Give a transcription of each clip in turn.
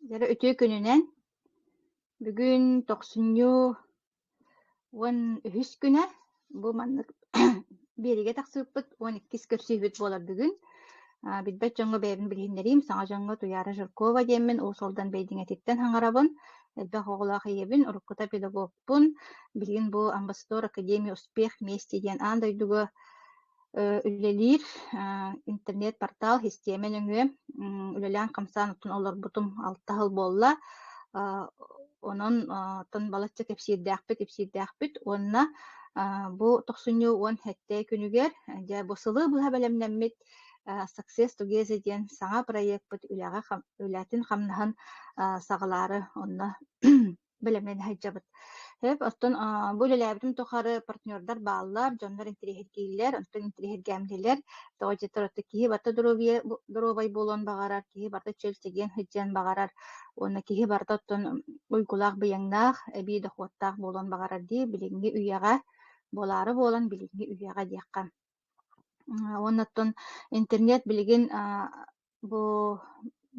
Дьэ үтүө күнүнэн бүгүн тохсунньу уон үһүс күнэ бу маннык биэриигэ тахсыыппыт уон иккис көрсүһүүбүт буолар бүгүн а, билбэт дьоҥҥо бэйэбин билиһиннэриим саҥа дьоҥҥо Туйаара Жиркова диэммин уус алдан бэйдиҥэтиттэн хаҥарабын элбэх оҕолоох ийэбин уруккута педагогпун билигин бу амбассадор академия успех мести диэн аан дойдуга үлэлиир интернет-портал, систиэмэ нөҥүө үлэлээн-хамсаан оттон олорбутум алта сыл буолла. Онон оттон балачча кэпсиирдээхпит, ипсиирдээхпит уонна бу тохсунньу уон сэттэ күнүгэр дьэ бу сылы быһа бэлэмнэммит Success Together диэн саҥа проекпыт үлэҕэ үлэтин-хамнаһын саҕалаары онно бэлэмнээн сылдьабыт. Сөп, оттон а, бу үлэлээбитим тухары партнердар бааллар, дьоннор интириэһиргииллэр, оттон интириэһиргээмнилэр. Тоҕо дьэ турата киһи барыта доруобуйа доруобай буолуон баҕарар, киһи барыта чөл сэгиэн сылдьыан баҕарар уонна киһи барыта оттон уйгулаах быйаҥнаах, эбии дохуоттаах буолуон баҕарар дии, билиҥҥи үйэҕэ буолаары буолан билиҥҥи үйэҕэ диэххэ. Уонна оттон интернет билигин бу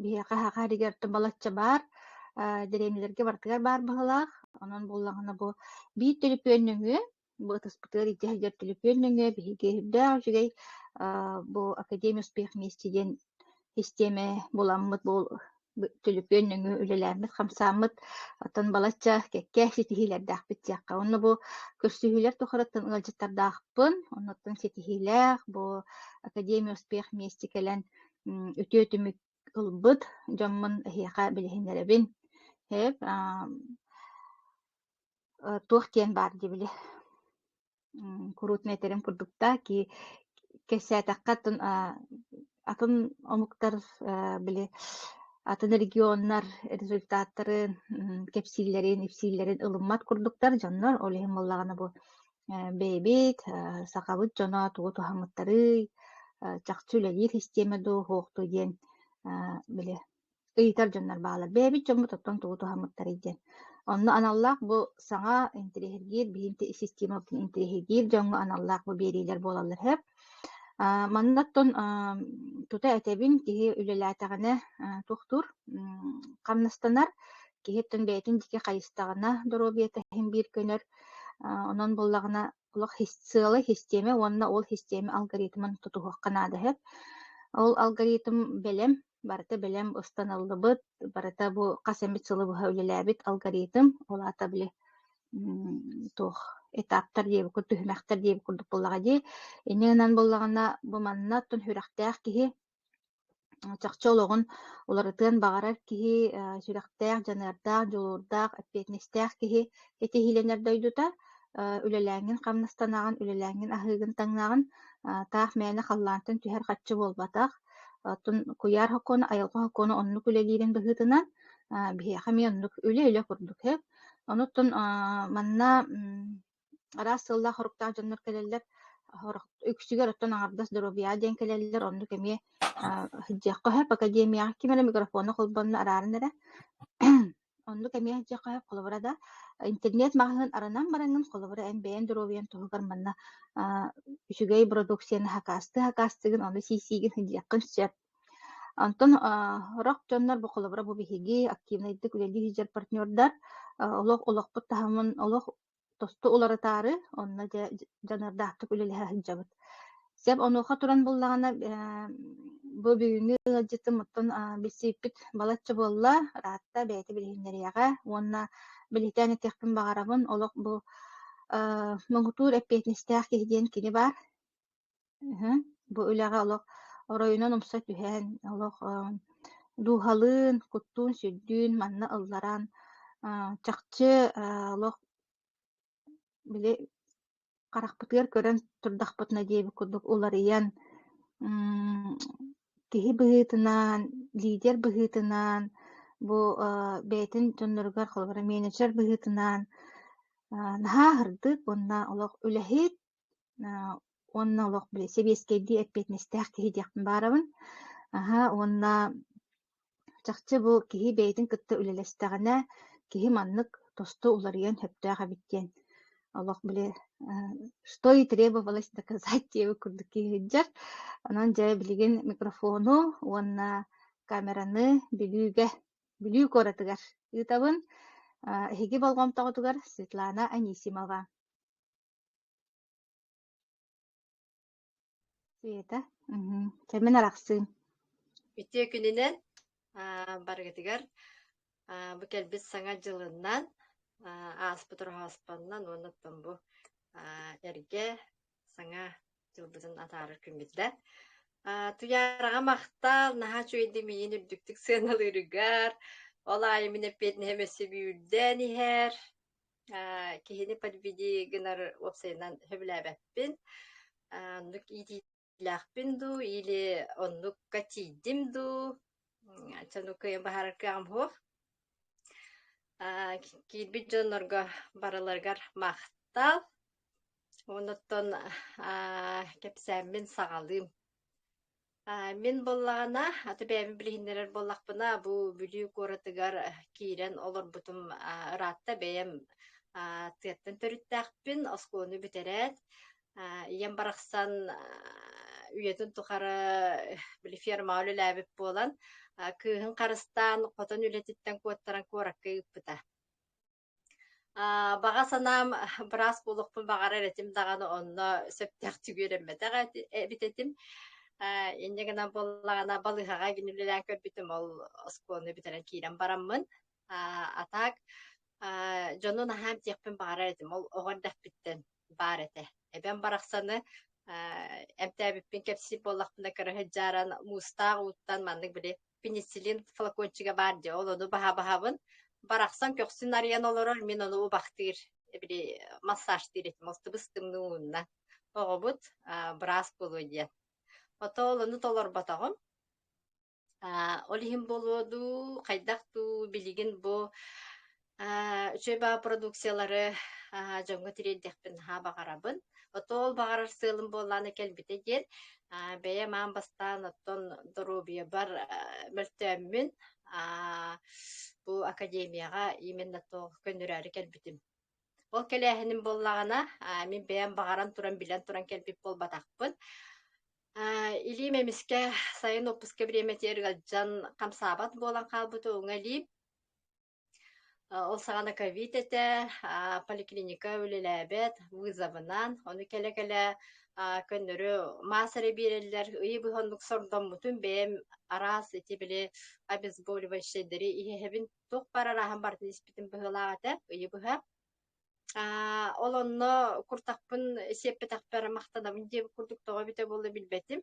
биһиэхэ саха сиригэр оттон балачча баар, дэриэбинэлэргэ барытыгар баар быһыылаах. Онон буоллаҕына бу биир төлөпүөн нөҥүө бу ытыспытыгар илдьэ сылдьар төлөпүөн нөҥүө биһиги өйдөөх үчүгэй бу Академия успех вместе диэн истиэмэ буламмыт түлүпүөн нөҥүө үлэлээммит, хамсааммыт. Оттон балачча кэккэ ситиһиилэрдээхпит диэххэ. Онно бу көрсүһүүлэр тухарыттан ыалдьыттардаахпын. Оннуттан ситиһиилээх, бу Академия успех миэсти кэлэн үтүө түмүк ылбыт дьоммун эһиэхэ билиһиннэрэбин. Эп, туох диэн баар дии били. куруутун этэрим курдук да ки кэпсээтэххэ атын атын омуктар били атын регионнар результаттарын кэпсииллэрин ипсииллэрин ылыммат курдуктар дьоннор ол иһин буоллаҕына бу бэйэбит сахабыт дьоно тугу туһамыттарый чахчы үлэлиир систиэмэ дуу уһуохтуй диэн били ыйытар дьоннор баалар. Бэйэбит дьоммут оттон тугу туһаммыттарый диэн. Онно аналлаах бу саҥа интириэһиргиир билимти систематын интириэһиргиир дьоҥҥо аналлаах бу биэриилэр буолаллар сөп. А, маннаттан а, тута этэбин киһи үлэлээтэҕинэ а, туохтуур хамнастанар киһиттэн бэйэтин дики хайыстаҕына доруобуйата иһин биир көнөр онон буллаҕына олох сыала систиэмэ уонна ол систиэмэ алгоритмын тутуһуохха наада сөп ол алгоритм бэлэм барыта бэлэм устаныллыбыт, барыта бу хас эмит сылы быһа үлэлээбит алгоритм, ол аата били туох этаптар диэбиккит, түһүмэхтэр диэбит курдук буоллаҕа дии. Ини ынан буллаҕына бу манна тун сүрэхтээх киһи чахчы олоҕун уларытыан баҕарар киһи, сүрэхтээх, дьаныардаах, дьулуурдаах, эппиэтинэстээх киһи этиһиилэнэр дойдута, үлэлээҥҥин хамнастанаҕын, үлэлээҥҥин аһыыгын таҥнаҕын, таах мээнэ халлаантан түһэр хаччы буолбатах. Оттон куйаар сокуона, айылҕа сокуона оннук үлэлиирин быһыытынан биһиэхэ эмиэ оннук үлэ-илэ курдук сөп. Онуттан манна араас сыллаах-соруктаах дьоннор кэлэллэр, үксүгэр оттон аҥардас доруобуйа диэн кэлэллэр, оннук эмиэ сылдьыахха сөп. Академияҕа ким эрэ микрофону холбонно арааран эрэ Оннук эмиэ дьиэхэ холобура да интернет-маҕаһыын аранан бараҥҥын, холобура, эн бэйэҥ доруобуйаҥ туһугар манна аа, үчүгэй продукцияны хакаастыы-хакаастыыгын, ону сиисиигин сылдьыаххын сөп. Онтон аа, сорох дьоннор бу холобура бу биһиги активнайдык үлэлии сылдьар партнердар, а, олох олохпут таһымын, олох тосту уларытаары, онно дьэ дьаныардаахтык үлэлэһэ сылдьабыт. Сөп, онуоха туран буллаҕына бу бүгүҥҥү ыалдьытым оттон билсииппит балачча буолла. Ыраатта бэйэтэ билиһиннэриэҕэ уонна билиһиннээн этиэхпин баҕарабын. Олох бу муҥутуур эппиэтинэстээх киһи диэн кини баар. Бу үлэҕэ олох оройунан умса түһэн, олох дууһалыын, куттуун-сүрдүүн манна ылларан, чахчы олох били харахпытыгар көрөн турдахпытына диэбит курдук уларыйан, киһи быһыытынан, лидер быһыытынан, бу бэйэтин дьонноругар, холобура, менеджер быһыытынан наһаа аһырдык уонна олох үлэһит, Уонна олох били сэбиэскэйдии эппиэтинэстээх киһи диэхпин баарабын. Аһа, уонна чахчы бу киһи бэйэтин кытта үлэлэстэҕинэ, киһи маннык тосту уларыйан сөптөөх эбит диэн олох били что и требовалось доказать диэбит курдук киһи сылдьар. Онон дьэ билигин микрофону уонна камераны Бүлүүгэ, Бүлүү куоратыгар ыытабын. Эһиги болҕомтоҕутугар Светлана Анисимова. Света, мгм. кэмин арахсыын. Ити күнүнэн аа, барыгытыгар аа, бу кэлбит саҥа дьылынан аа, ааспыт роһооспоннан уонна оттон бу аа, эргэ саҥа дьылбытын атаарар күммүтэ. Аа, Туйаараҕа махтал, наһаа үчүгэйдик миин үрдүктүк сыаналыырыгар, ол аайы мин эппиэтинэһим өссө бүürдээн иһэр. Киһини подведи гынар уопсайынан сөбүлээбэппин. Оннук иитиилээхпин дуу или оннукка тиийдим дуу? Чэ, кыайан баһарар кыаҕым суох. Киирбит дьоннорго барыларыгар махтал. Оннуттан кэпсээммин саҕалыым. А, Мин буоллаҕына, аты бэйэбин билиһиннэрэр буоллахпына, бу Бүлүү куоратыгар э, киирэн олорбутум а, ыраатта бэйэм а, тыаттан төрүттээхпин, оскуоланы бүтэрээт, а, ийэм барахсан а, үйэтин тухары э, били фермаҕа үлэлээбит буолан, а, кыыһын харыстаан, хотон үлэтиттэн куоттаран куоракка ыыппыта. Аа, баҕа санаам быраас буолуохпун баҕарар этим даҕаны онно сөптөөхтүк үөрэммэтэх эти- эбит этим. Э, инньэ гынан буоллаҕына балыыһаҕа гин үлэлээн көрбүтүм ол оскуоланы бүтэрэн киирэн бараммын. Аа, а так, аа, дьону наһаа эмтиэхпин баҕарар этим ол оҕо эрдэхпиттэн. баар этэ. Эбэм барахсаны эмтээбиппин кэпсиир буоллахпына көрөһө дьааран муустаах ууттан маннык били пенициллин флакончига баар диэ ол ону баһа-баһабын барахсан көхсүн арыйан олорор мин ону убахтыыр били массажтыыр этим алтыбыс тымныы уунна оҕобут быраас буолуо диэн ото ол ону толорботоҕум А, ол иһин буолуо дуу, хайдах дуу, билигин бу а, үчүгэй баҕа продукциялары а, дьоҥҥо тириэрдэхпин наһаа баҕарабын. Отол баҕарар сыалым буоллааны кэлбитэ диэн а, бэйэм аан бастаан оттон доруобуйабар а, мөлтөөммүн а, бу академияҕа именно то көннөрөөрү кэлбитим. Ол кэлээһиним буоллаҕына а, мин бэйэм баҕаран туран билэн туран кэлбит буолбатахпын. Илиим эмискэ сайын уоппуска бириэмэтигэр ыалдьан хамсаабат буолан хаалбыта уҥа илиим. Ол саҕана ковид этэ, поликлиника үлэлээбэт вызовынан, ону кэлэ-кэлэ көннөрү маас эрэ биэрэллэр. Ыйы быһа оннук сордоммутум, бэйэм араас ити били обезболивающайдары иһэһэбин, туох барар ааһан барытын испитим быһыылаах этэ ыйы быһа. Аа, ол онно куртахпын сиэппэтэхпэ эрэ махтанабын диэбит курдук тоҕо эбитэ буолла билбэтим.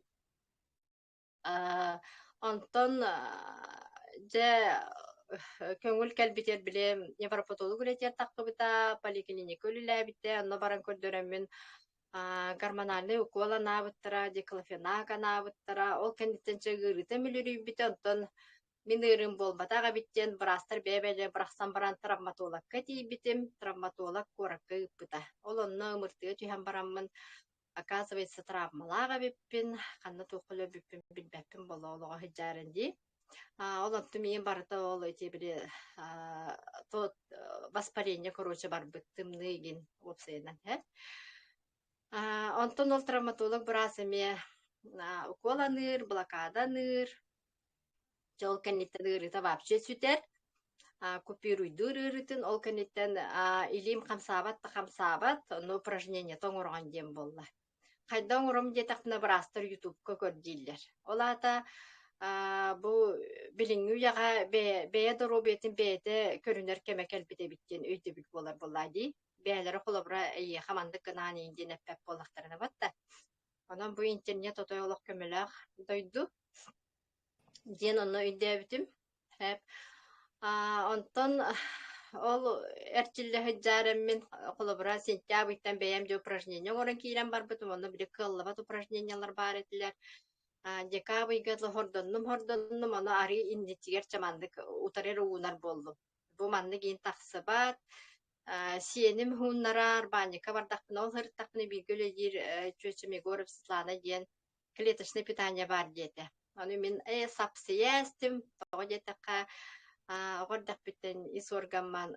Аа, онтон аа, дьэ көҥүл кэлбитигэр били невропатолог үлэтигэр тахсыбыта, поликлиника үлэлээбитэ, онно баран көрдөрөммүн аа, гормональнай укол анаабыттара, диклофенак анаабыттара, ол кэнниттэн чэ ыарыыта мүлүрүйбүтэ, онтон Мин ыарыым буолбатах эбит диэн быраастар бэйэ-бэйэлэрэ бырахсан баран травматологка тиийбитим, травматолог куоракка ыыппыта. Ол онно ымыртыга түһэн бараммын, оказывается, травмалаах эбиппин, ханна туохха өлөрбүппүн билбэппин боло олоҕо сыдьаарын дии. А, ол онтум ийэм барыта ол эти били а, то э, воспаление, короче, барбыт тымныы игин уопсайынан һэ. А, онтон ол травматолог быраас эмиэ а, укуол аныыр, блокада аныыр, Дьэ ол кэнниттэн ыарыыта вообще сүтэр. А, купируйдуур ыарыытын ол кэнниттэн а, илиим хамсаабат да хамсаабат, но упражнениета оҥороҕун диэн буолла. Хайда оҥором диэтэхпинэ быраастар ютубка көр дииллэр. Ол аата а, бу билиҥҥи үйэҕэ бэйэ, бэйэ доруобуйатын бэйэтэ көрүнэр кэмэ кэлбит эбит диэн өйдөбүл буолар буоллаа дии. Бэйэлэрэ холобура эйиэхэ маннык гынаан иин диэн эппэт буоллахтарына батта. Онон бу интернет отой олох көмөлөөх дойду диэн онно өйдөөбүтүм. Эп аа онтон ол эрчиллэ сылдьаар эммин холобура сентябрьтан бэйэм дьэ упражнение оҥорон киирэн барбытым. Онно били кыаллыбат упражнениялар баар этилэр. А, декабрьга хордоннум-хордоннум, ону арыы инничигэр чаманнык утары эрэ уунар буоллум. Бу маннык иин тахсыбат, Сиэним хууннарар, баанньыкка бардахпына, ол сырыттахпына бииргэ үлэлиир чүөчүм Егоров Светлана диэн клеточное питание баар диэтэ. Ону мин э сапсыйа эстим, тоҕо диэтэххэ оҕо эрдэхпиттэн ис органман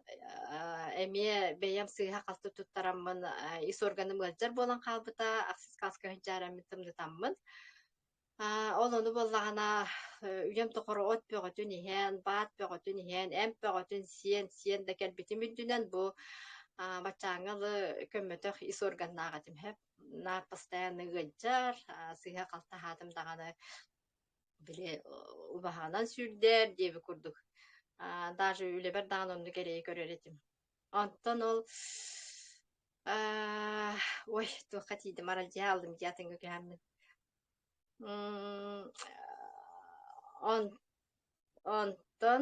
эмиэ бэйэм сыыһа-халты туттараммын ис органым ыалдьар буолан хаалбыта, ахсыс кааска сыһдьаараммын тымнытаммын. Аа, ол ону буоллаҕына э, үйэм тухары от бөҕөтүн иһэн, баат бөҕөтүн иһэн, эмп бөҕөтүн сиэн, сиэн да кэлбитим үрдүнэн бу а, баччааҥҥа лы көммөтөх ис органнаах этим. Хэп наар постоянно ыалдьар, а, сыыһа-халты аһаатым даҕаны били убаһанан сүүрдэр диэби курдук а, даже үлэбэр даҕаны оннук эрэйи көрөр этим. Онтон ол а, ой, туохха тиийдим, аралдьыһа алдым дии атыҥҥа күһаммын. М, он, онтон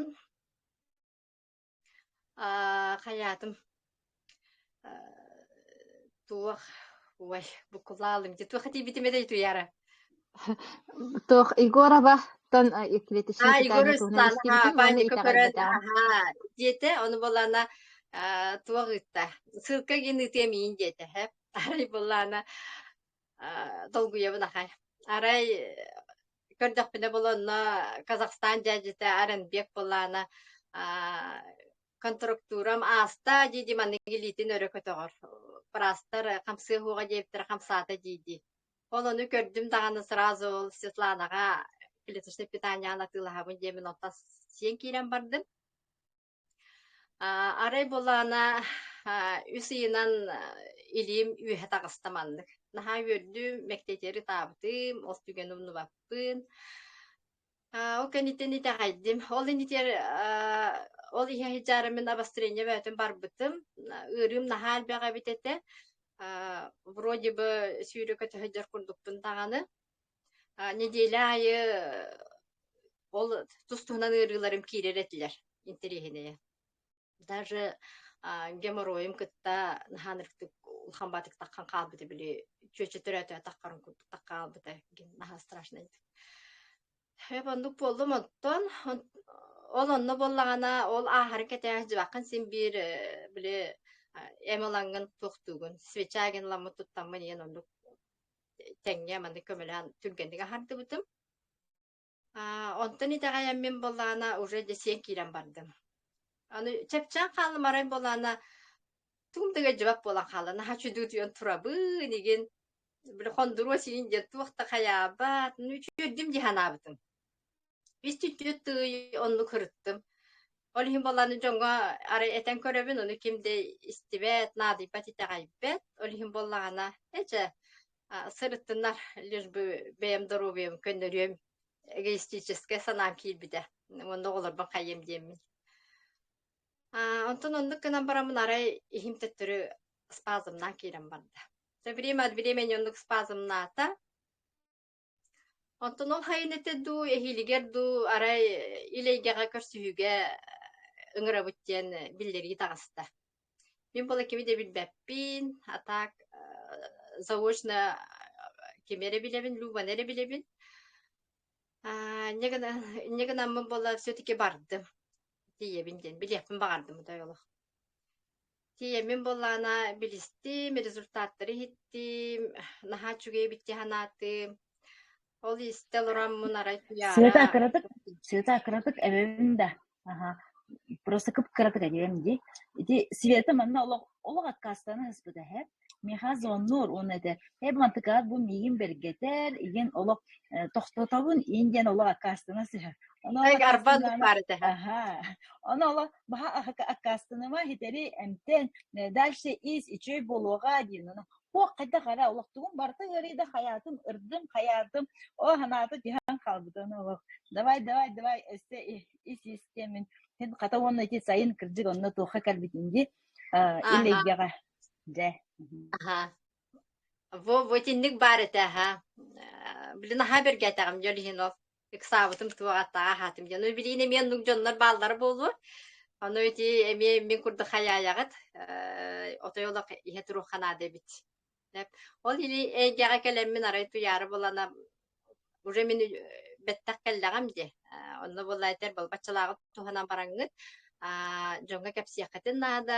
а, хайаатым туох ой букулаалым дии туох этийбитим этэй туяра Туох Егороваттан э, клеточный а питание Егора туһунан Светлана истибитим уонна панико көрөн итэҕэйбэтэҕим. аха диэтэ ону булана а, туох ыытта ссылка гин ытыам иин диэтэ һэ арай булана долгуйабын ахай арай көрдөхпүнэ була онно казахстан дьээдьитэ аренбек булаана контрактурам ааста дии маннык илиитин өрө көтөҕөр пырастар хамсыа уоҕа диэбиттэр хамсаата дии дии ол ону көрдүм даҕаны сразу ол светланаҕа клеточное питание атыылаһабын диэмин оттон сиэн киирэн бардым Аа, арай булаана аа, үс ыйынан аа, илиим үөһэ таҕыста маннык. Наһаа үөрдүм, мэктиэтиэри таабытым, ол түгэни умнубаппын. Аа, ол кэнниттэн итэҕэйдим. Ол иннитигэр аа, ол иһэ сыдьаары мин обострение бөөтүн барбытым. Ыарыым наһаа элбэҕэ эбит этэ. Аа, вроде бы сүүрөкө төһө дьар курдукпун даҕаны. А, неделя аайы ол тус туһунан ыарыыларым киирэр этилэр интэриэһинэйэ. Даже а, геморроем кытта наһаа ырыктык улахан баатык таххан хаалбыта били чүөчө төрөөтө таххарын курдук тах хаалбыта гин наһаа страшно ити. Эп оннук буоллум оттон ол онно буоллаҕына ол ааһарын кэтээх дьыбакын син биир э, били эм ылаҥҥын туохтуугун свечагин ламмыт туттаммын иэн оннук тэҥҥэ маны көмөлөөн түргэнник аһардыбытым. А, онтон итэҕэйэммин буоллаана уже десен киирэн бардым. Аны чэпчээн хаалымарай буоллаана тугум да дьыбап буолан хаалла. Наһаа чудуутуйан турабын игин били хондуруо сиин диэн туох да хайаабат, үчүөрдүм дии санаабытым. Иститтиит тыый оннук ырыттым. Ол иһин баланы дьоҥҥо арай этэн көрөбүн, ону ким да истибэт, наадыйбат итэҕэйбэт. Ол иһин буоллаҕына, эчэ сырыттыннар, лишь бы бэйэм доруобуйам көннөрүөм эгоистическай санаам киирбитэ. Онно оҕолорбун хайыам диэммин. Онтон оннук гынан бараммын арай иһим төттөрү спазмнаан киирэн барда. Со время от времени оннук спазмнаата, Онтон ол хайынete дуу, эһиилигэр дуу, арай ил эйгэҕэ көрсүһүүгэ ыҥырабыт диэн биллэрии таҕыста. Мин буола кими да билбэппин, а так заочно кими эрэ билэбин, Любаны эрэ билэбин. Аа, инньэ гынан инньэ гынаммын буола все-таки бардым, тиийэбин диэн билиэхпин баҕардым отой олох. Тиийэммин буоллаҕына билистим, результаттары иһиттим, наһаа үчүгэй эбит дии санаатым. Ол истэ олороммун арай Света а кыратык Света а кыратык эбэбин да аха просто кып кыратык эдьигэм дии ити Света манна олох олох откаастана сыспыта эһэ миэхэ звоннуур уонна этэр эй Балтыкаат бу миигин бэргэтэр иһин олох тохтотобун иин диэн олох аккаастана сыһар арбан ону оло баха аккаастаныма хитэри эмтэн дальше ис үчүй болуоға диэн аны хуох хайда хара олох тугун барта ыарыйда хаятым ырдым хаятым о ханааты тиһан хаалбытын олох давай давай давай өсте ис истемин хата уонна ити сайын кырдьык онно туохха кэлбитин ди иллейгеҕэ Дьэ. Аһа. Во, вотинник баар этэ, аһа. Э, Блин, аһаа бэргээтэҕим дьон иһин ол. Ыксаабытым туох атаа аһаатым дьон. Ой, билин эмиэ оннук дьоннор бааллара буолуо. Ону ити эмиэ мин курдук хайаайаҕыт. Э, Отой олох иһэ туруохха наада эбит. Деп. Ол или эйгэҕэ кэлэммин арай туйаары булана уже мин э, бэттэх кэллэҕим дии. Э, Онно буолла этэр был баччалааҕыт туһанан бараҥҥыт. А, дьоҥҥо кэпсиэххитин наада.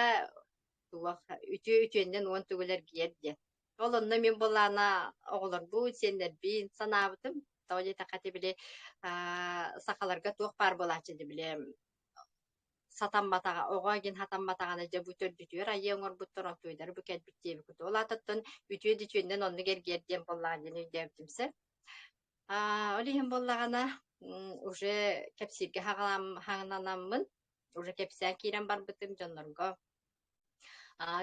туох үтүө үтүөннэн уон төгүл эргийэр диэн. Ол онно мин былаана оҕолорбут, сиэннэрбин санаабытым. Тоҕо диэтэххэ ити били сахаларга туох баар буолааччы ди били сатамматаҕа, оҕо игин хатамматаҕына дьэ бу төрдүтүөр айыы оҥорбуттар ортойдары бу кэлбит диэбикут. Ол аатыттан үтүө үтүөннэн оннук эргиэр диэн буоллаҕа диэн өйдөөбүтүмсэ. А, ол иһин буоллаҕына уже кэпсииргэ хаҥанаммын уже кэпсээн киирэн барбытым дьоннорго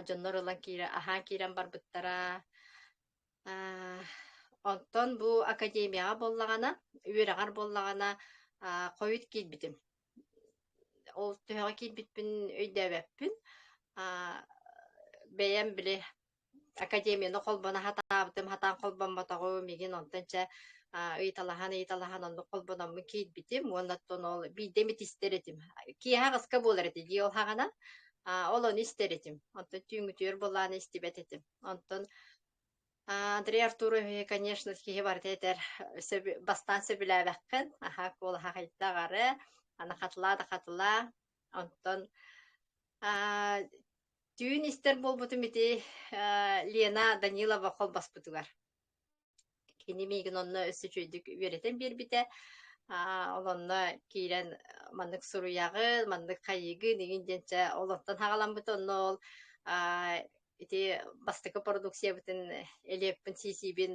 дьоннор ылан киирэ аһаан киирэн барбыттара онтон бу академияҕа буоллаҕына үөрэҕэр буоллаҕына хойут киирбитим ол төһөҕө киирбиппин өйдөөбөппүн бэйэм били академияны холбоно хатаабытым, хатаан холбоммотоҕум, мигин онтон чэ ыйыталаһан-ыйыталаһан оннук холбономмун киирбитим уонна оттон ол биирдэ эмит истэр этим. Киэһэ аҕыска буолар этэ дии ол хаҕынан. ол ону истэр этим. Онтон түүҥҥүтүөр буолааны истибэт этим. Онтон Андрей Артурови, конечно, киһи барыта этэр бастаан сөбүлээбэххин, аха куолаха хайда аҕары, аны хатылаа да хатылаа, Онтон аа, түүн истэр буолбутум ити аа, Лена Данилова холбаспытыгар. Кини миигин онно өссө үчүгэйдик үөрэтэн биэрбитэ. Аа, ол онно киирэн маннык суруйаҕы, маннык хайыгы, нигин диэнчэ ол онтон хаҕаламмыта онно ол аа, ити бастакы продукциябытын элиэппин сиисиибин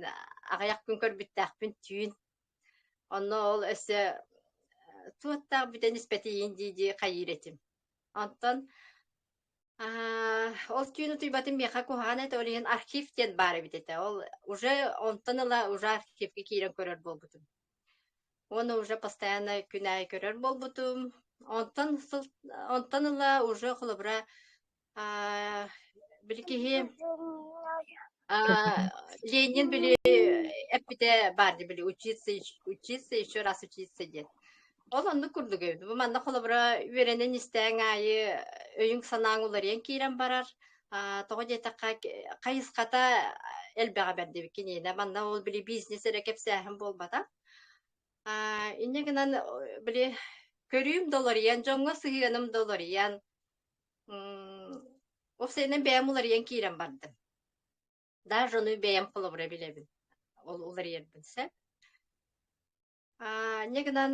аҕыйах күн көрбүттээхпин түүн Онно ол өссө суоттаах бүтэн испэтиин дии-дии хайыыр этим. Онтон аа ол түүн утуйбатым миэхэ куһаҕан этэ, ол иһин архив диэн баар эбит этэ. Ол уже онтон ыла уже архивка киирэн көрөр буолбутум. Уонна уже постоянно күн аайы көрөр буолбутум. Онтон сыл онтон ыла уже холобура А, били киһи а, Ленин били эппитэ бар дии били учиться учиться еще раз учиться диэн. Ол оннук курдук эбит. Бу манна холобура үөрэнэн истээн аайы өйүҥ санааҥ уларыйан киирэн барар. А, тоҕо диэтэххэ хайысхата элбэҕэ бэрдибит киниэнэ. Манна ол били бизнес эрэ кэпсээһин буолбатах. А, инньэ гынан били көрүүм доларыйан, дьоҥҥо сыһыаным доларыйан, Ол сэрэнэн бэйэм уларыйан киирэн бардым. Даже ону бэйэм холобура билэбин. Ол уларыйарбын сөп. Аа, не гынан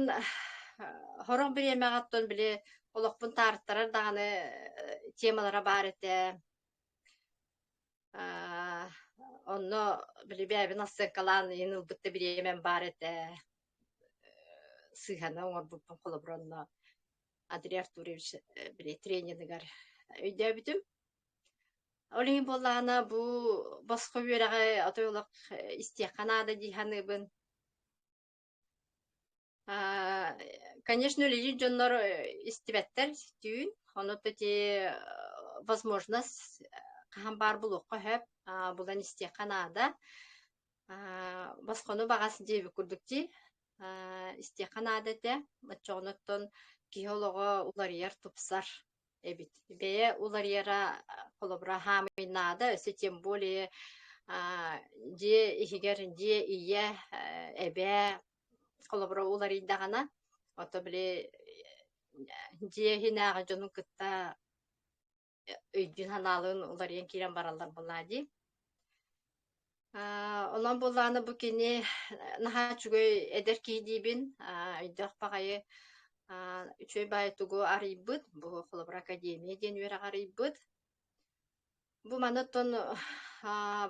Хороох бириэмэҕэ оттон били олохпун таарыттарар даҕаны темалара баар этэ. Аа, онно били бэйэбин астыҥкалаан иһин ылбыт да бириэмэм баар этэ. Сыыһаны оҥорбуппун холобура онно Андрей Артурович тренерыгар өйдөөбүтүм. Ол иһин буоллаҕына бу босхо үөрэҕи отой олох истиэххэ наада дии саныыбын. Конечно, үлэлиир дьоннор истибэттэр түүн, онуоттан возможность хаһан баар булуохха сөп, булан истиэххэ наада. Аа, босхону баҕас диэбит курдук дии. Аа, истиэххэ наада этэ. Оччоҕуттан киһи олоҕо уларыйар, тупсар эбит. Бэйэ уларыйара холобура хаамыйнаада, өссө тем более аа, дьиэ иһигэр дьиэ ийэ, э, эбээ холобура уларыйдаҕына, ото били дьиэ иһинээҕи дьонун кытта өйдүүн-санаалыын уларыйан киирэн бараллар буоллаа дии. Онон буоллааны бу кини наһаа үчүгэй эдэр киһи диибин, өйдөөх баҕайы үчүгэй баай тугу арыйбыт, бу холобура академия диэн үөрэҕи арыйбыт. Бу маныттон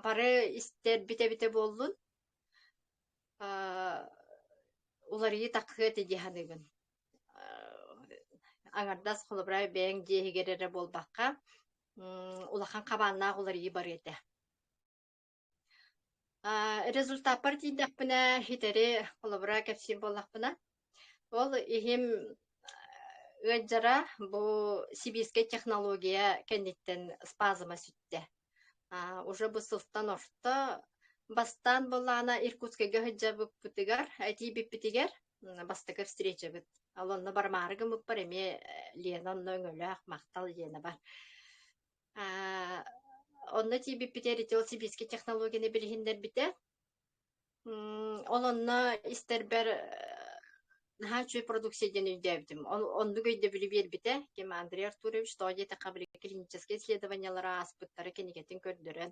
бары истэрбит эбитэ буоллун. Уларыйыы таккыат идиэ саныгын. Аҥардас холобура бэйэҥ дьиэһигэр эрэ буолбакка, улахан хабааннаах уларыйыы барыа этэ. Аа, результаппар тиийдэхпинэ хитэри холобура кэпсиир буоллахпына, ол иһим ыалдьара бу сибиирскэй технология кэнниттэн спазма сүттэ. Аа, уже бу сылтан орто бастаан былаана Иркутскайга сылдьа быкпытыгар, этии бүппүтүгэр бастакы встречабыт ал онно бармаары гымыппар эмиэ Лена онно өҥөлөөх махтал Ленабар онно тиийбиппитэ ритил сибиискэ технологияны билиһиннэрбитэ ол онно истэрбэр наһаа үчүгэй продукция диэн өйдөөбүтүм оннук өйдөбүлү биэрбитэ ким Андрей Артурович тоҕо диэтэххэ клиническэй исследованиелары ааспыттара кинигэтин көрдөрөн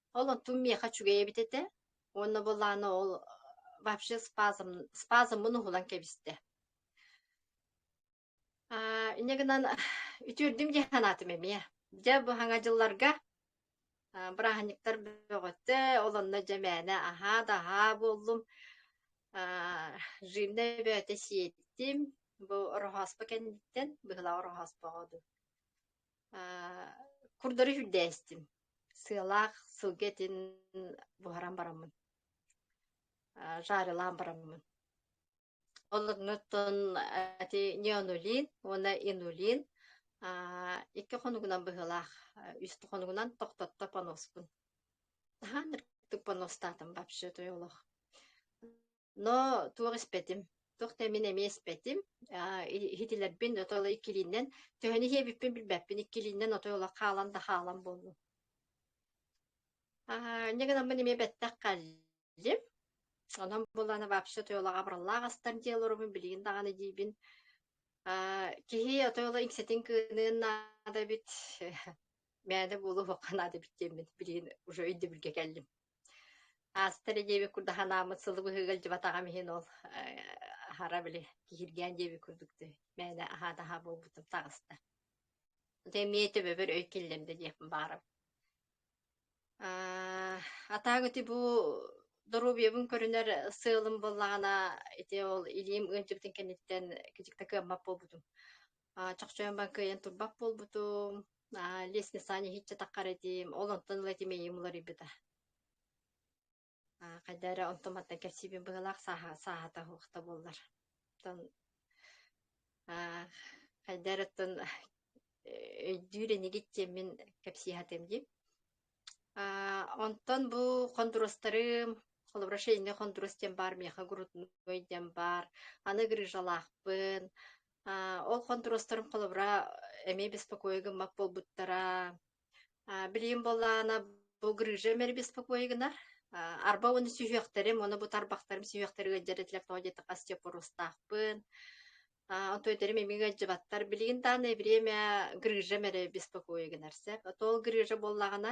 Ол оттум миэхэ үчүгэй эбит этэ уонна былаана ол вообще спазм спазммын уһулан кэбистэ. Аа, инньэ гынан үтүөрдүм дии санаатым эмиэ. Дьэ бу саҥа дьылларга а, бырааһынньыктар бөҕөттө, ол онно дьэ мээнэ аһаа-даһаа буоллум. А, жирнэй бөөтө сиэттим. Бу ороһооспо кэнниттэн, быһыылаах ороһооспоҕо дуу. Курдары үрдээстим. Сыалаах сылгы этин буһаран бараммын, жарилаан бараммын. Оннуттан эти неонулин уонна инулин икки хонугунан быһылаах үстэ хонугунан тохтотто поноспун. Хаан үрдүк поностаатым вообще той олох. Но туох испэтим, туох да мин эмиэ испэтим. Аа, иһитилэрбин ото ыла иккилииннэн төһөнү иһиэбиппин билбэппин иккилииннэн ото ыла хаалан да хаалан буоллум. Аа, инньэ гынаммын эмиэ бэттэх кэллим. Онон булан вообще тойолаҕа абыраллаах астар дьиэ олоробун билигин даҕаны диибин. Аа, киһи отойла иҥсэтин кыыныан наада эбит. Мээнэ буолуохха наада эбит диэммин билигин уже өйдөбүлгэ кэллим. Ааста эрэ диэбит курдук ханааммыт сылы быһыыга илдьибатаҕым иһин ол аһара били киһиргээн диэбит курдук дии мээнэ аһаат-аһаа буолбутум таҕыста. Ити эмиэ төбөбөр өй киллэрдэ диэхпин баҕарабын. Аа, а так ити бу доруобуйабын көрүнэр сыалым буоллаҕына ити ол илиим ыалдьыбытын кэнниттэн кичик да кыаммат буолбутум. А, чохчойон кыайан турбат буолбутум. А, лес Саня хиччатахха этим, ол онтон ыла тимэйим уларыйбыта. А, хайда эрэ онтон мантан кэпсиибин быһылаах сааһа сааһата уохта буоллар. Оттон а, хайда эрэ оттон өйдүүр энигит тиэммин кэпсиэхэтим дии. А, онтон бу хондурустарым, холобура шейный хондурус диэн баар, миэхэ грудной диэн баар, аны грыжалаахпын, Ол хонтуруостарым холобура эмиэ беспокойа гыммат буолбуттара. Билигин буоллаана бу грыжа эмэри беспокойа гынар. Арба оны сүһүөхтэрим, оны бу тарбахтарым сүһүөхтэрин ыалдьарытилэр тоҕо диэтэххэ остеопорустаахпын. Онто өтөрүм эмиэ ыалдьыбаттар. Билигин даана эбириэмэ грыжа эмэри беспокойа гынар сеп. Тоол грыжа буоллаҕына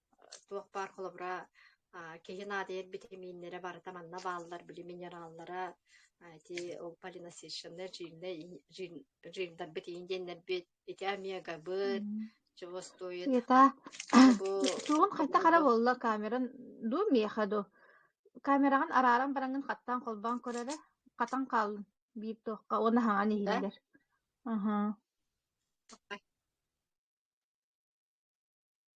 туох баар холобура а, киһи наадыйар битэмииннэрэ барыта манна бааллар били минераллара а, ити ол полиносищенная жирная и- жир- жирдарбыт индиэннэрбит ити омегабыт чего стоит Ята, бу тугун хайта хара булгу болла камеран дуу миэхэ ду камераҕын арааран бараҥын хаттаан холбоон көрөрө хатан хааллын биир туохха уона хаҥан да иһиллэр аха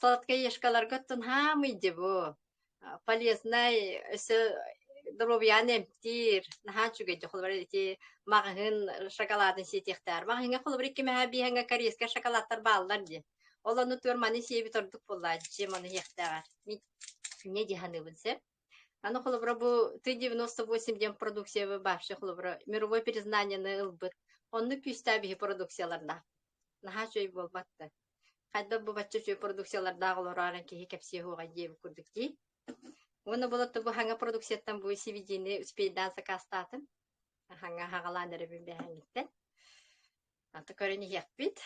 Сладкоежкаларга тунхаам ыйдыбу полезнай өсө доруобуйаны эмтиир наһаа үчүгэйдик холобура ити маҕаһын шоколадын сиэтиэхтээр маҕаһыҥҥа холобура икки мэһэ биһэҥҥэ корейскай шоколадтар бааллар дии ол онно туор маны сиэбит ордук буоллаа дьиэм ону иһиэхтээҕэр мне дии саныыбын сэп аны холобура бу ты девяносто восемь диэн продукция вообще холобура мировое признание ылбыт онно күүстээх биһи продукцияларна наһаа үчүгэй буолбатта Хайдах бу бачча үчүгэй продукциялардаах олороорон киһи кэпсиэ уоҕай диэбит курдук дии. Уонна болотто бу хаҥа продукцияттан бу сивидиини успейдаан сакаастаатын. Хаҥа хаҕалаан эрэ билбээһиниттэн. Ата көрөн иһиэхпит.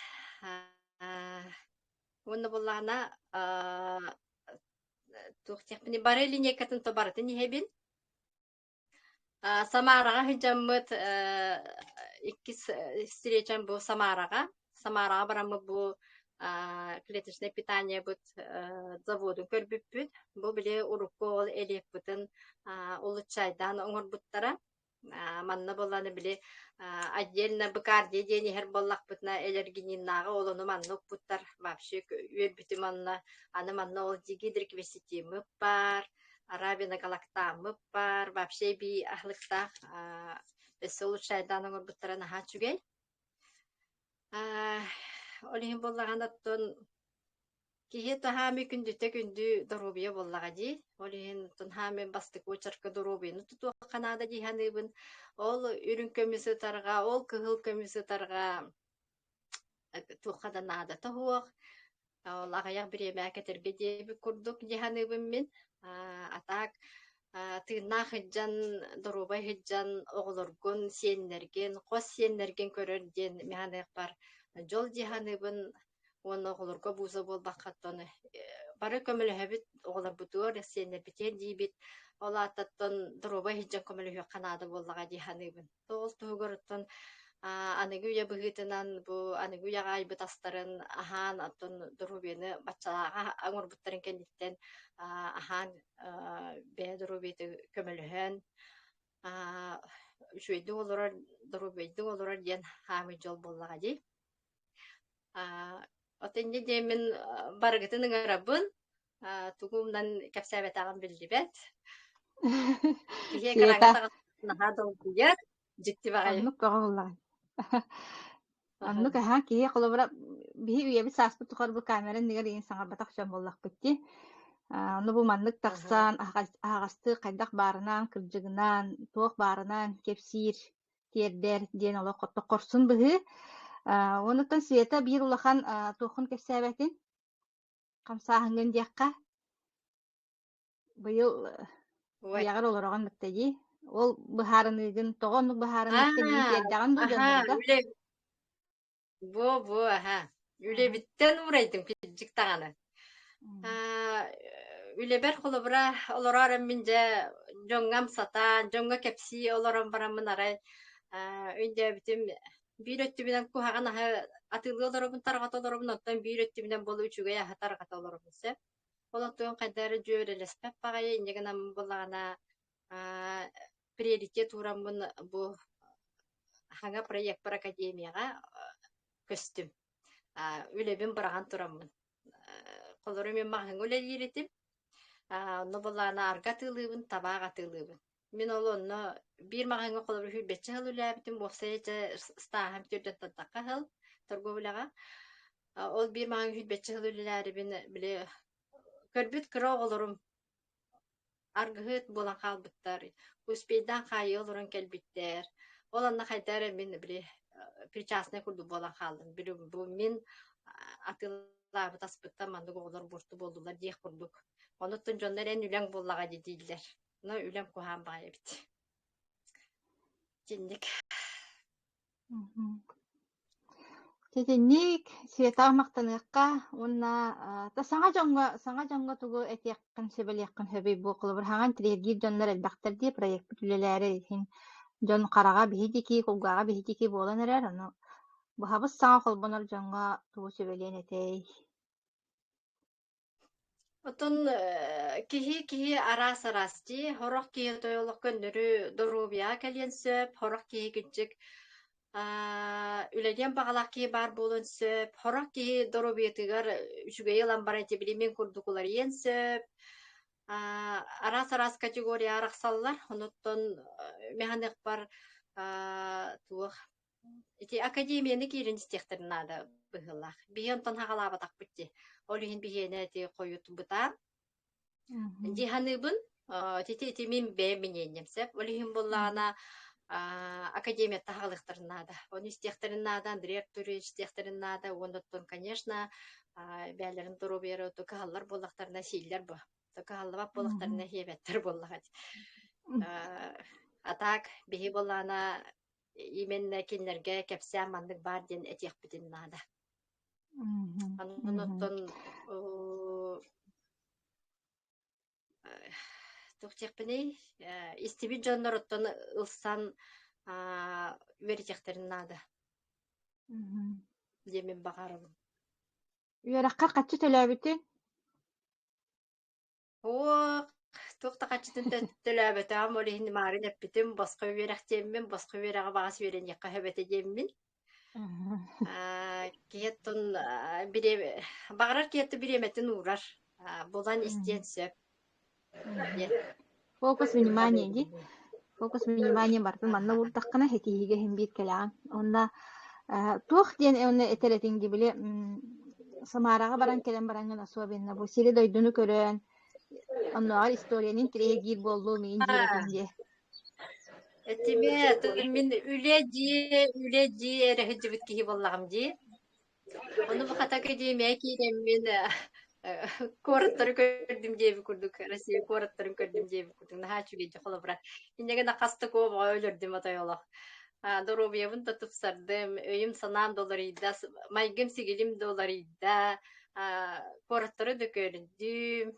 Уонна буллаана туох диэхпиний бары линейкатын то барытын иһэбин. А, Самараҕа сылдьаммыт э, иккис э, встречам бу Самараҕа. Самараҕа бараммыт бу а, клеточное питаниебыт э, заводун көрбүппүт. Бу били урукку ол элиэкпытин а, улуччайдаан оҥорбуттара. А, манна боланы били а, отдельно быкардия диэн иһэр боллахпытына элергининнааҕы олону манна укпуттар вообще үөрбүтү манна аны манна ол дигидриквеситимы бар Арабина Галактааммыт баар вообще би аһлыктаах өссө лучше айдаан оҥорбуттара наһаа үчүгэй. Ол иһин буоллаҕына оттон киһи таһаами күндүтэ күндү доруобуйа буоллаҕа дии. Ол иһин тунһаами бастык очерка доруобуйаны тутуохха наада дии саныыбын. Ол үрүҥ көмүс ытарга, ол кыһыл көмүс ытарга туохха да наадата суох, ол аҕыйах бириэмэҕэ кэтэрбит диэбит курдук дии саныыбын мин. А так тыыннаах сылдьан, доруобай сылдьан оҕолоргун, сиэннэргин, хос сиэннэргин көрөр диэн мен саныахпар дьол дии саныыбын уонна оҕолорго бууза буолбаккаттан бары көмөлөһөбүт оҕолорбутугар, сиэннэрбитигэр диибит. Ол аатыттан доруобай сылдьан көмөлөһүөххэ наада буоллаҕа дии саныыбын. тоҕус туһугуруттан аныгы үйэ быһыытынан бу аныгы үйэҕэ айбыт астарын аһаан оттон доруобуйаны баччалааҕа оҥорбуттарын кэнниттэн аһаан бэйэ доруобуйата көмөлөһөн үчүгэйдик олорор доруобуйдук олорор диэн хаамый дьол буоллаҕа дии от инньэ диэмин барыгытын ыҥырабын тугу умнан кэпсээбэтэҕин биллибэт. Киһи кыраҥа Света, саҕана наһаа долгуйар, дьикти баҕайы. оннук көҕүллэҕин. Оннук аһа киһи холобура биһи үйэбит сааспыт тухары бу камера иннигэр иин саҥарбатах дьон буоллахпыт дии. Аны бу маннык тахсан аһаҕастыы хайдах баарынаан кырдьыгынаан, туох баарынаан кэпсиир, тиэрдэр диэн олох хорсун быһыы. Онуттан Света биир улахан туохун кэпсээбэтин? хамсааһыҥҥын диэххэ быйыл үйэҕэр олороҕун мэттэйии ол быһаарыныгын тоҕо оннук быһаарыммаккыный тиэрдэҕин бу дьоннорго бо бо аһа үлэбиттэн уурайдым кирдик даҕаны үлэбэр холобура олороор мин дьэ дьоҥҥо амсатан дьоҥҥо кэпсии олорон бараммын арай өйдөөбүтүм Биир өттүбүнэн куһаҕан аһы атыылыы олоробун, тарҕата олоробун, оттон биир өттүбүнэн буолу үчүгэй аһы тарҕата олоробун сөп. Ол оттон хайда эрэ дьүөрэлэспэт баҕайы инньэ гынан буоллаҕына аа приоритет уураммын бу хаҥа проекпар академияҕа көстүм. Аа үлэбин быраҕан тураммын. Холоро мин маһыҥа үлэлиир этим. Аа онно буоллаҕына арга атыылыыбын, табаах атыылыыбын. Мин ол онно биир маҕаһыыҥҥа холобур сүүрбэччэ сыл үлэлээбитим, уопсайа дьэ стааһым түрдәттахха сыл торговой үлэҕэ. А, Ол биир маҕаһыын сүүрбэччэ сыл үлэлээрибин били көрбүт кыра оҕолорум аргыһыт буолан хаалбыттар, успейдаан хаайыы олорон кэлбиттэр. Ол онно хайдах эрэ мин били э, причастный курдук буолан хаалдым. Били бу мин а, атыылаабыт аспыттан маннык оҕолор буорту буоллулар диэх курдук. Онуттан дьоннор эн үлэҥ буоллаҕа дии дииллэр. Но үлэм куһаан баҕайы эбит. Итинник. Итинник светаҕа махтаныахха уонна та саҥа дьоҥҥо саҥа дьоҥҥо тугу этиэххин сөбүлиэххин сөбүй бу холобур хаҥан тириэргиир дьоннор элбэхтэр дии проекпыт үлэлээри иһин дьон хараҕа биһидики кулгааҕа биһидики буолан эрэр ону быһабыс саҥа холбонор дьоҥҥо тугу сөбүлиэн этэй Оттон э, киһи киһи араас-араас дии. Сорох киһи тойолох көннөрү доруобуйаҕа кэлиэн сөп. Сорох киһи кырдьык аа, үлэлиэн баҕалаах киһи баар буолуон сөп. Сорох киһи доруобуйатыгар үчүгэйи ылан баран ити билимин курдук уларыйыан сөп. Аа, араас-араас категория арахсаллар. Онуттан э, мэханыахпар аа, туох Ити академияны киирэн истиэхтэрин наада быһыылаах. Биһиги онтон хаҕалаабатахпыт дии. Ол иһин биһиэнэ ити хойут бытаан. Дии саныыбын. Ити ити мин бэйэм миниэнньэм сөп. Ол иһин буоллаҕына академия таһаҕалыахтарын наада. Оны истиэхтэрин наада, Андрей Артурович истиэхтэрин наада. Уонна оттон, конечно, бэйэлэрин доруобуйара кыһаллар буоллахтарына, сииллэр бу. Кыһаллыбат буоллахтарына, хиэбэттэр буоллаҕа. А так, биһи буоллаҕына именно кинилэргэ кэпсээн маннык баар диэн этиэхпитин наада. Онтон тухтехпиний истибит дьонноруттан ылсан үөрэтиэхтэрин наада. Диэмин баҕарабын. Үөрэххэ хаччы төлөөбүтүн? Уох, туох да хаччытын да төлөөбөтөҕүм, ол иһин Марын эппитим, босхо үөрэх диэммин, босхо үөрэҕи баҕас үөрэниэххэ сөбөтө диэммин. Аа, киһиэттэн аа, бириэмэ, баҕарар киһиэттэн бириэмэтин уурар. Аа, булан истиэн сөп. Диэн. Фокус внимания, ди. фокус внимание барытын манна уурдаххына ситиһиигэ иһин биир кэлэҕиҥ уонна туох диэн уонна этэр этиҥ дии били Самараҕа баран кэлэн бараҥҥын особенно бу сири-дойдуну көрөн оннооҕор историянын тирэйгиир буоллу миин диэбитин диэ этиме тыгын мин үлэ дии үлэ дии эрэ сылдьыбыт киһи буоллаҕым дии Ону бу Хатака диэмээ киирэммин э, э, куораттары көрдүм диэби курдук Россия куораттарын көрдүм диэби курдук наһаа үчүгэйдик холобура иннигэ нахастык обоҕо өлөрдүм отой олох доруобуйабын да тупсардым өйүм-санаам да уларыйда майгым сигилим да уларыйда куораттары да көрдүм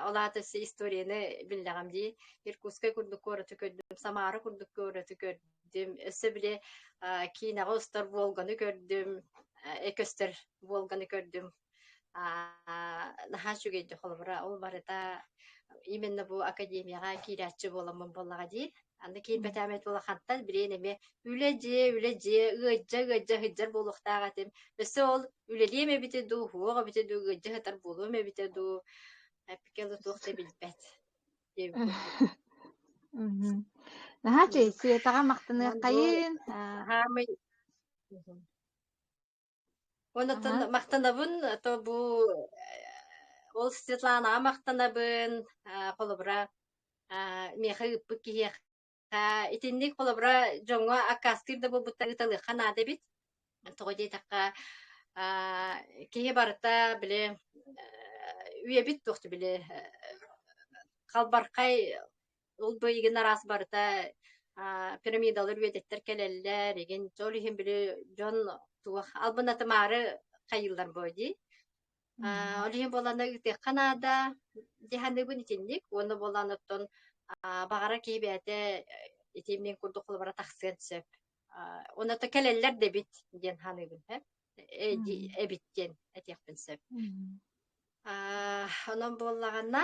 Ол аата историяны биллэҕим дии. Иркутскай курдук куораты көрдүм, Самара курдук куораты көрдүм, өссө били киинэҕэ устар Волганы көрдүм, Экөстөр Волганы көрдүм. наһаа үчүгэй холобура. Ол барыта именно бу академияҕа киирээччи буоламмын буоллаҕа дии. Аны киирбэтээмэт улахантан билиэн эмиэ үлэ дьиэ, үлэ дьиэ, ыалдьа, ыалдьа сыдьар буолуохтаах этим. Өссө ол үлэлиэм эбитэ дуу, уһуох эбитэ дуу, ыалдьа сытар буолуом эбитэ дуу, эппикэ да туох да билбэт. диэбиппин Наһаа чэй, Сиэтаҕа махтаныаххайын. Аһаамый Онотон махтанабын, то бу ол Светланаҕа махтанабын, холобура миэхэ ыыппыт киһиэхэ итинник холобура дьоҥҥо аккаастыыр да буолбуттар ыыталыахха наада эбит. Тоҕо диэтэххэ, киһи барыта били үйэбит туохту били халбархай Ол быйыгын араас барыта пирамидалар үөдэттэр кэлэллэр, игин чөл иһин били дьон туох албынатымаары хайыллар бой дии. Ол иһин боланы ыытыахха наада диханыбын итинник, уонна болан оттон бағара киһи бэйэтэ итимнин курдук холбара тахсыан сөп. Оны то кэлеллер дебит диэн ханыбын хэ эбит диэн этиэхпин сөп. Онон боллағанна